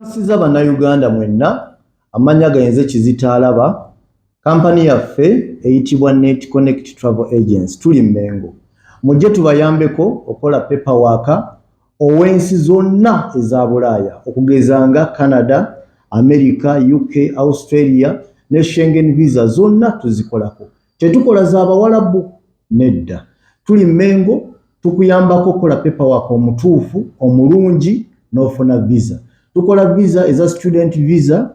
Nsiza bannayuganda mwenna amannya gayenze kizitaalaba kampani yaffe eyitibwa net connect travel agency tuli mmengo mujje tubayambeko okola pepa waaka ow'ensi zonna eza Bulaaya okugeza nga Canada, America, UK, Australia ne Schengen visa zonna tuzikolako. Tetukola za Bawalabu? Nedda. Tuli Mmengo tukuyambako okukola paperwork omutuufu omulungi n'ofuna visa. Tukola visa eza student visa,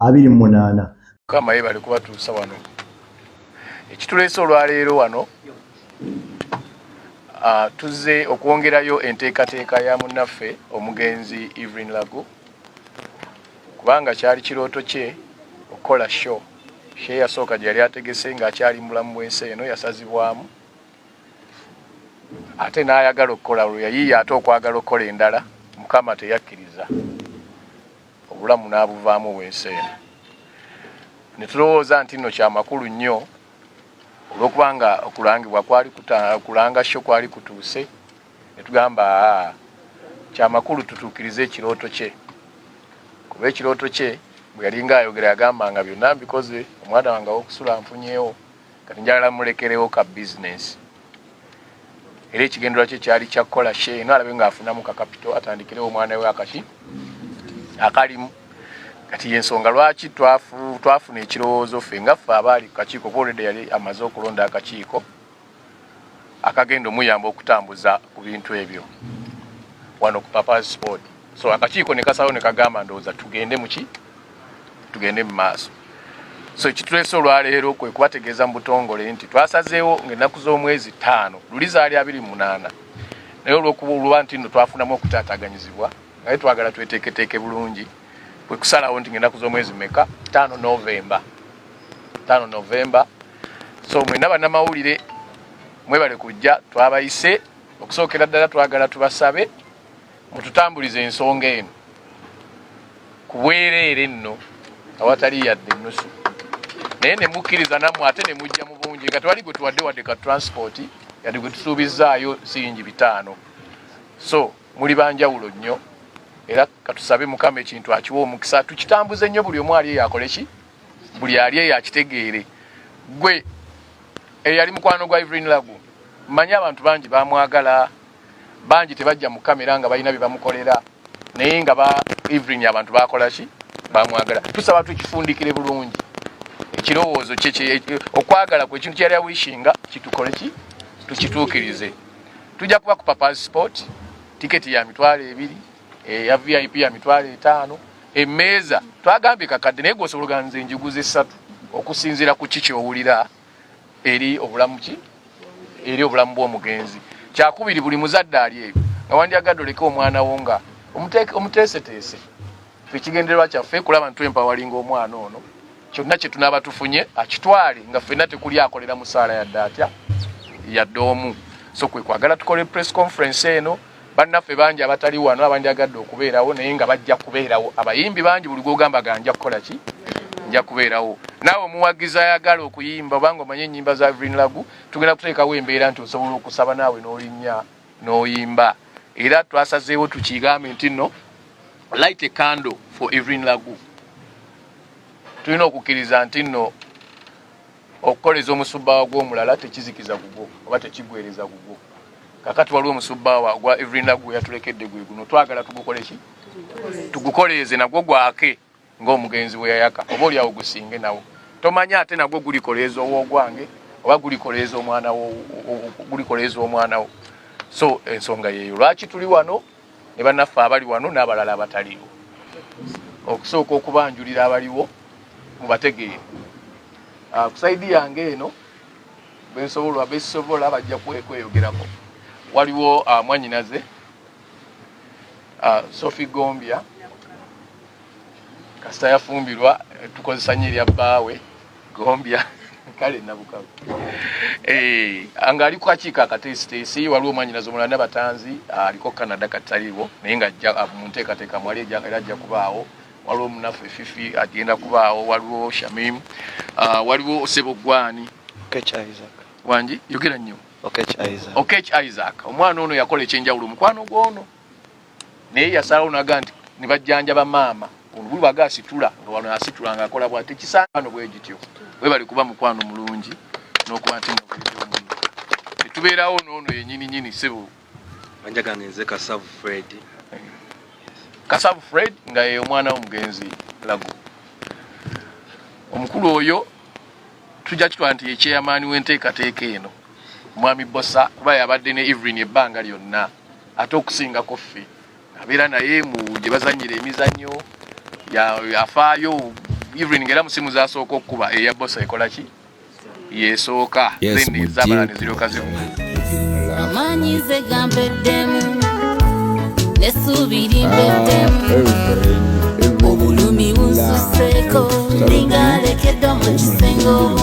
abiri mu munaana mukama yebale kubatuusa wano ekituleese olwaleero wano uh, tuzze okwongerayo enteekateeka ya munnaffe omugenzi evelyn lago kubanga kyali kirooto kye okukola show she yasooka gye yali ategese ng'akyali mulamu bwensi eno yasazibwamu ate n'ayagala okukola olwo yayiiya ate okwagala okukola endala mukama teyakkiriza obulamu n'abuvaamu obwensi eno ne tulowooza nti nno kyamakulu nnyo olw'okuba nga okulangibwa kwali kulanga sho kwali kutuuse ne tugamba kyamakulu tutuukirize ekirooto kye kuba ekirooto kye bwe yalinga ayogera yagamba nga byonna mbikoze omwana wange awokusula nfunyewo kati njagala mulekerewo ka bizinesi era ekigendera kye kyali kyakukola she eno alabe ngaafunamu kakapito atandikirewo omwana we akaki akalimu kati yensonga lwaki twafuna ekirowoozo ffe nga ffe abaali ku kakiiko kuolede yali amaze okulonda akakiiko akagenda omuyamba okutambuza ku bintu ebyo wano ku papas sport so akakiiko nekasalawo nekagamba ndowooza tugende muki tugende mu maaso so ekitulese olwaleero kwe kubategeeza mu butongole nti twasazeewo ngaennaku z'omwezi ttaano luli zaali abiri munaana naye olwokuba oluba nti no twafunamu okutaataganyizibwa naye twagala tweteeketeeke bulungi kwe kusalawo nti ngaennaku z'omwezi meka ttaano novemba ttaano novemba so mwena bannamawulire mwebale kujja twabayise okusookera ddala twagala tubasabe mututambulize ensonga eno kubwereere nno awatali yadde ennusu naye nemukkiriza nammwe ate nemujja mu bungi nga tewali gwe tuwadde wadde ka transport yadde gwe tusuubizzaayo siringi bitaano so muli banjawulo nnyo era katusabe mukama ekintu akiwa omukisa tukitambuze nnyo buli omu ali eyo akole ki buli ali eyo akitegeere gwe eyali mukwano gwa ivrin lagu mmanyi abantu bangi bamwagala bangi tebajja mu kamera nga balina byebamukolera naye nga ba evelyn abantu bakolaki bamwagala tusaba tukifundikire bulungi ekirowoozo okwagala kwe ekintu kyeyali awishinga kitukole ki tukituukirize tujja kuba ku papa sport tiketi ya mitwalo ebiri eya eh, vip ya mitwalo etaano emeeza twagambye kakadde naye gwosobola oganze enjiguza essatu okusinziira ku ki kyowulira eri obulamu ki eri obulamu bw'omugenzi kyakubiri buli muzadde ali ebyo nga wandyagadde oleke omwana wo nga omuteeseteese ekigendererwa kyaffe kulaba nti empawalinga omwana ono kyonna kye tunaaba tufunye akitwale nga ffenna tekuli akolera musaala yadde atya yadde omu so kwe kwagala tukole press conference eno bannaffe bangi abatali wano abandyagadde okubeerawo naye nga bajja kubeerawo abayimbi bangi buli gwogamba ga nja kukola ki nja kubeerawo naawe omuwagizi ayagala okuyimba obanga omanye ennyimba za vrin lagu tugenda kuteekawo embeera nti osobola okusaba naawe n'olinnya n'oyimba era twasazeewo tukigambe nti nno light a candle for evrin lagu tulina okukkiriza nti nno okukoleza omusubbaawa gw'omulala tekizikiza gugwo oba tekigwereza gugwo kakati waliwo omusubbaawa gwa evrina gwe yatulekedde gwe guno twagala tugukoleki tugukoleeze nagwo gwake ng'omugenzi bwe yayaka oba oli awo gusinge nawo tomanya ate nagwo gulikoleeza ow'ogwange oba gulikoleeza omwana wo gulikoleeza omwana wo so ensonga yeeyo lwaki tuli wano ne bannaffe abali wano n'abalala abataliiwo okusooka okubanjulira abaliwo mubategeere ah, ku saidi yange eno bensobola besobola bajja kweyogerako waliwo ah, mwanyinaze ah, sophie gombia kasita yafumbirwa tukozesa nyo erya bbaawe gombya kale nabukalu eh, nga ali kukakiiko akateesiteesi waliwo omwanyinazi omulala nabatanzi aliko canada kataliwo naye nga ajja ah, mu nteekateeka mwali era ajja kubaawo waliwo munaffe fifi agenda kubaawo waliwo shamim ah, waliwo osebo gwani wangi yogera nnyo okech isaac omwana ono yakola ekyenjawulo omukwano gwono naye yasalawo naga nti ne bajjanjaba maama olubuli waga asitula nga wano asitula nga akola bwa tekisaano bwe gityo webali kuba mukwano mulungi n'okuba nti netubeerawo noono yenyini nyini sebo anjagange nze kasavu fred kasavu fred nga ye omwana w'omugenzi lagu omukulu oyo tujja kitwala nti yekyeyamaani w'enteekateeka eno mwami bosa kuba yabadde ne evelyn ebbanga lyonna ate okusingako ffe abeera naye mu gye bazannyira emizannyo yafaayo even ngera musimu zasooka okukuba eya bosa ekola ki yesooka then ezabala neziryoka zivuga amanyi ze gampeddemu nesuubiri mpeddemu ah, obulumi bunsuseeko ndingalekedde mu kisenge omu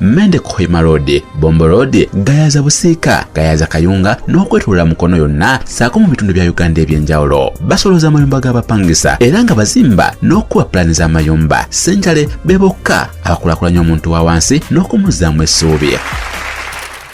Mende Kohima Road, Bombo Road, Gayaza Busiika, Gayaza Kayunga n'okwetolola Mukono yonna saako mu bitundu bya Uganda eby'enjawulo. Basolooza amayumba g'abapangisa era nga bazimba n'okukuba pulaani z'amayumba. Ssenjale be bokka abakulakulanya omuntu wa wansi n'okumuzzaamu essuubi.